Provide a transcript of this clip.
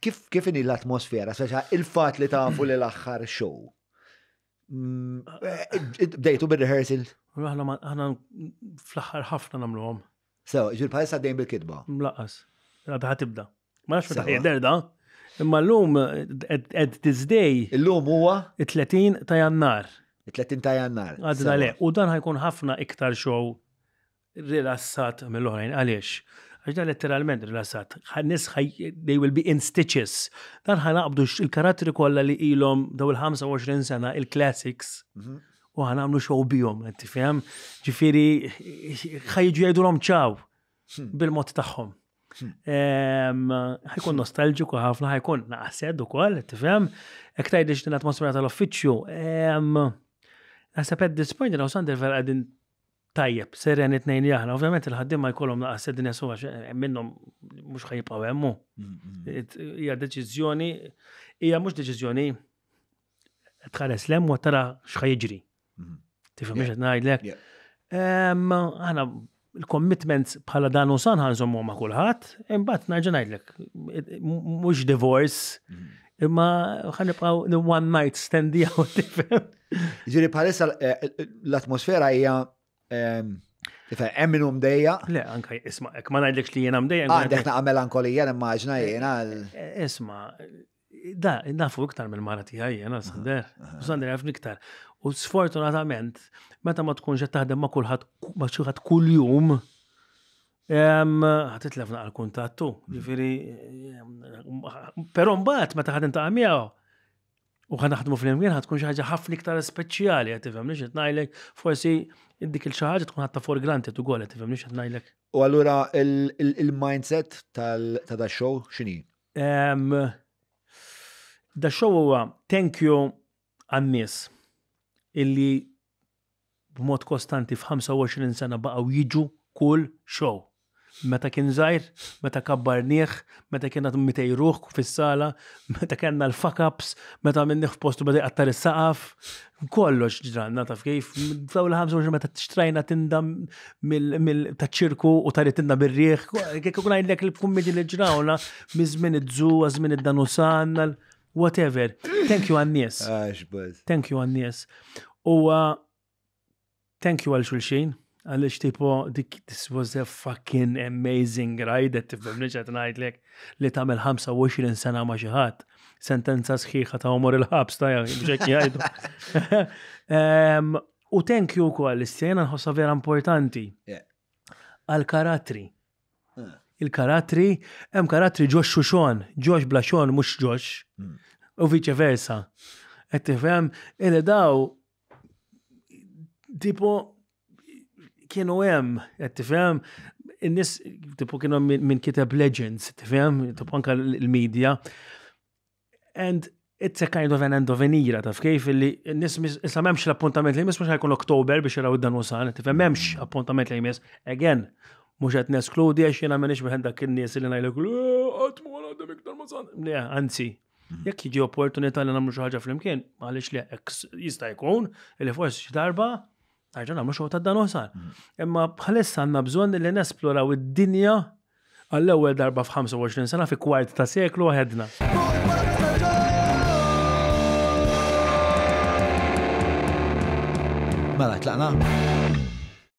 kif kif inhi l-atmosfera, speċa il-fat li tafu li l-aħħar show. Mm, eh, bdejtu bir-rehearsal? Aħna ma- aħna fl-aħħar ħafna nagħmluhom. Sew, ġil bħal saddejn bil-kitba. Mlaqas. Għadha tibda. Ma nafx meta Sewa. jidher da. Imma llum at- at this day Illum huwa it-30 ta' Jannar. it-30 ta' jannar. Għadna Sewa. le. U dan ħajkun ħafna iktar show rilassat mill-oħrajn. Għaliex? Għax dan letteralment rilassat. Nis they will be in stitches. Dan ħanaqbdu il-karattri kollha li ilhom daw il-25 sena il-classics mhm. u ħanamlu xow bihom, qed tifhem? Ġifieri ħajġu jgħidulhom ċaw hmm. bil-mod tagħhom. Hmm. ħajkun nostalġiku ħafna, ħajkun naqsed ukoll, tifhem? Ek tgħidlix din atmosfera tal-uffiċċju. Naħseb at this point, Sander vera qegħdin tajjeb, seren it-tnejn li aħna. Ovvjament il-ħaddiema jkollhom naqas sedinja suwa minnhom mhux ħajibqgħu hemm. Hija deċiżjoni, hija mhux deċiżjoni tħares lem u tara x'ħajġri. Tifhem biex qed ngħidlek. Aħna il-commitments bħala dan u san ħanżommu ma' kulħadd, imbagħad nerġa' ngħidlek, mhux divorce, imma ħanibqgħu one night stand jew tifhem. Ġiri bħalissa eh, l-atmosfera hija ehm, Hemm minnu mdejja? Le, anka isma, ek ma ngħidlekx li jiena mdejja. Għandek naqgħa melankolija immaġna eh, jiena. Eh, isma, da, nafu iktar minn mara tiegħi jiena Sander. U Sander jaf iktar. U sfortunatament, meta ma tkunx qed taħdem ma' kulħadd ma' xi kuljum, ħatitlef naqal kuntattu. Ġifieri, però mbagħad meta ħad intaqa' miegħu u ħa naħdmu flimkien ħa tkun xi ħaġa ħafna iktar speċjali qed tifhem li xi ngħidlek forsi dik il xi ħaġa tkun ħatta for granted ukoll qed tifhem li xi ngħidlek. U allura il-mindset ta' da show x'inhi? Da show huwa thank you għan-nies illi b'mod kostanti f'25 sena baqgħu jiġu kull show. Meta kien żgħir, meta kabbarnieh, meta kien għad 200 ruħ fis-sala, meta kellna l-fuck-ups, meta minnieh f'postu beda jqattar is-saqaf, kollox ġranna taf kif. F'daw l-25 meta xtrajna tinda taċ-ċirku u taritinna bir-riħ, kif ngħidlek il-kummedi li ġrawna miż-żmien iż-żu, għaż-żmien id-danusan, whatever. Thank you għannis. Thank you għannis. U thank you għal xulxin. Għalix tipo, this was a fucking amazing ride, għet tifhem li ġat najdlek li tamel 25 sena ma xaħat. Sentenza sħiħa ta' umor il-ħabs ta' bġek jgħidu. U thank you kol, l-istjena nħossa vera importanti. għal karattri. Eh. Il-karattri, hemm karattri ġox xuxon, ġox bla xon mhux ġox, hmm. u viċe versa. Qed tifhem, il daw tipo kienu hemm, qed tifhem, in-nies tipo kienu minn kiteb legends, tifhem, tipo anke l-medja. And it's a kind of an end of an era, taf kif li nis issa memx l-appuntament li jmiss mux ħajkun Oktober biex jaraw id-dan usan, tifhem memx appuntament li jmiss. Again, mux għet neskludi għax jena minix meħen dak il-nies li najlek, għatmu għal għadem iktar musan. Le, anzi, mm. jek jiġi opportunità li namlu xaħġa fl-imkien, għalix li jista jkun, li forsi xi darba Għarġan għamlu xogħol ta' dan uħsar. Mm. Imma bħalissa għandna bżonn li nesploraw id-dinja għall-ewwel darba f'25 sena fi kwart ta' seklu għedna. Mela, tlaqna?